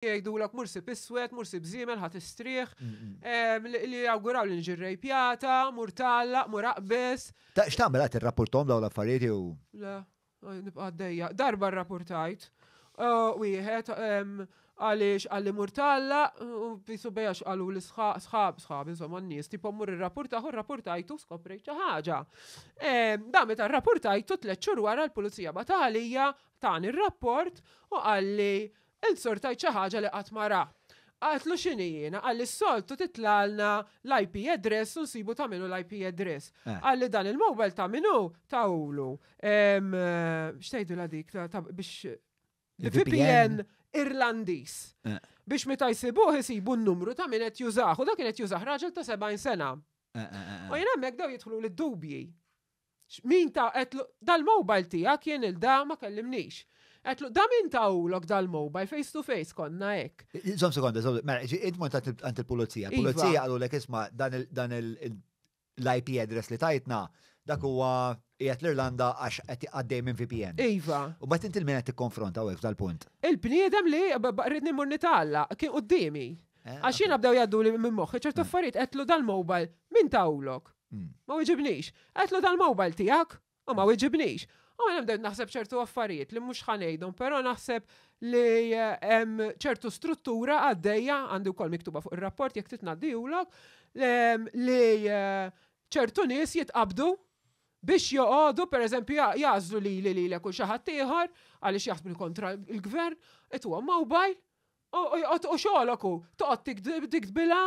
jgħidulok mur sib iswed, mur sib żiemel ħadd istrieħ, ehm, li jawguraw li nġi rejpjata, mur tallaq, mur aqbeż. Ta' x'tagħmel qed irrapportom dawn l-affarijiet jew? Le, nibqa' għaddejja. Darba rrapportajt eh, wieħed ehm, għaliex għalli mur tallaq u bisu bejax għalu l-sħab, sħab, sħab, insomma n-nies, tipo mur irrapportaħ u rrapportajtu skoprejt xi ħaġa. Ehm, da meta rrapportajtu tliet xhur wara l-pulizija batgħalija tani r-rapport u għalli Int sortajt xi ħaġa li qatt ma ra. Qaltlu x'inhi jiena, qalli s-soltu titlagħlna l-IP address u nsibu ta' min hu l-IP address. Qalli dan il-mobile ta' min hu, tawlu x'tgħidilha dik biex VPN Irlandiż. Biex meta jsibuh isibu n-numru ta' min qed jużah u dak kien qed jużah raġel ta' 70 sena. U jien hemmhekk bdew jidħluli d-dubji. Min ta, għedtlu, dal-mobile tiegħek jien il-da ma kellimnix. Għedtlu, da min tawlok dal-mobile face to face konna hekk. Żomm sekonda, żomm, mela, ġi int mort għand il-pulizija. Iva. Pulizija qalulek isma' dan l-IP address li tajtna dak huwa qiegħed l-Irlanda għax qed għaddej minn VPN. Iva. U mbagħad inti l-min qed tikkonfronta hawnhekk f'dal-punt? Il-bniedem li rridni mmur nitgħallaq kien quddiemi. Eh, Għax jiena bdew jgħadduli minn moħħi ċertu affarijiet għedtlu dal-mobile min tawlok? Ma wiġibnix. Għedtlu tal-mobile tiegħek u ma wiġibnix. U mela bdejt naħseb ċertu affarijiet li mhux ħa ngħidhom, però naħseb li hemm ċertu struttura għaddejja, għandi wkoll miktuba fuq ir-rapport jekk trid ngħaddihulok, li ċertu nies jitqabdu biex joqogħdu pereżempju jagħżlu lili lilek u xi ħadd ieħor għaliex jaħsbu li kontra l-gvern, għedtuhom mobile U xogħlok hu toqgħod tikdbilha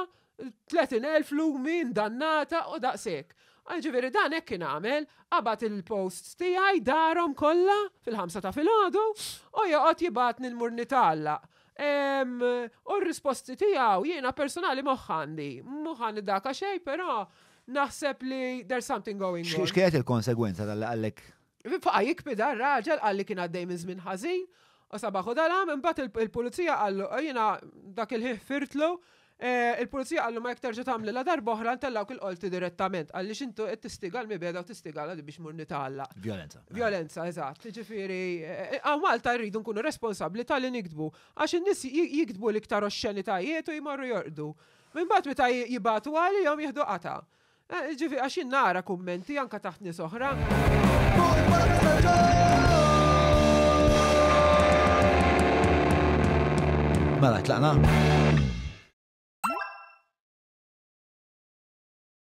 30,000 lumi ndannata u daqshekk. Jiġifieri dan hekk kien għamel, qabad il-posts tiegħi, darhom kollha fil-ħamsa ta' filgħodu u joqgħod jibgħatni nmur nitgħallaq. U r-risposti tiegħu jiena personali moħħ għandi. Moħħ għandi daka xejn però naħseb li there's something going on. X'kienet il-konsegwenza talli qallek Baqa' jikbidha r-raġel, qal li kien għaddej minn żmien ħażin u sabaħ u dal-għam, imbagħad il-Pulizija qallu, jiena dak il-ħin ħfirtlu, il-Pulizija qallu ma jekk terġa' tagħmlilha darba oħra ntellgħuk il-Qorti direttament, għaliex inti qed tistiga l-mibegħda u tistigalha li biex mur nitgħalla. Vjolenza. Vjolenza, eżatt. Jiġifieri, hawn Malta rridu nkunu responsabbli ta' li niktbu, għax in-nies jiktbu l-iktar oxxenitajiet u jmorru jorqdu. Imbagħad meta jibgħatu għalihom jieħdu qatgħa. Eh, ġifi, għax jien nara kummenti anka taħt nies oħra. Mela, tlaqna.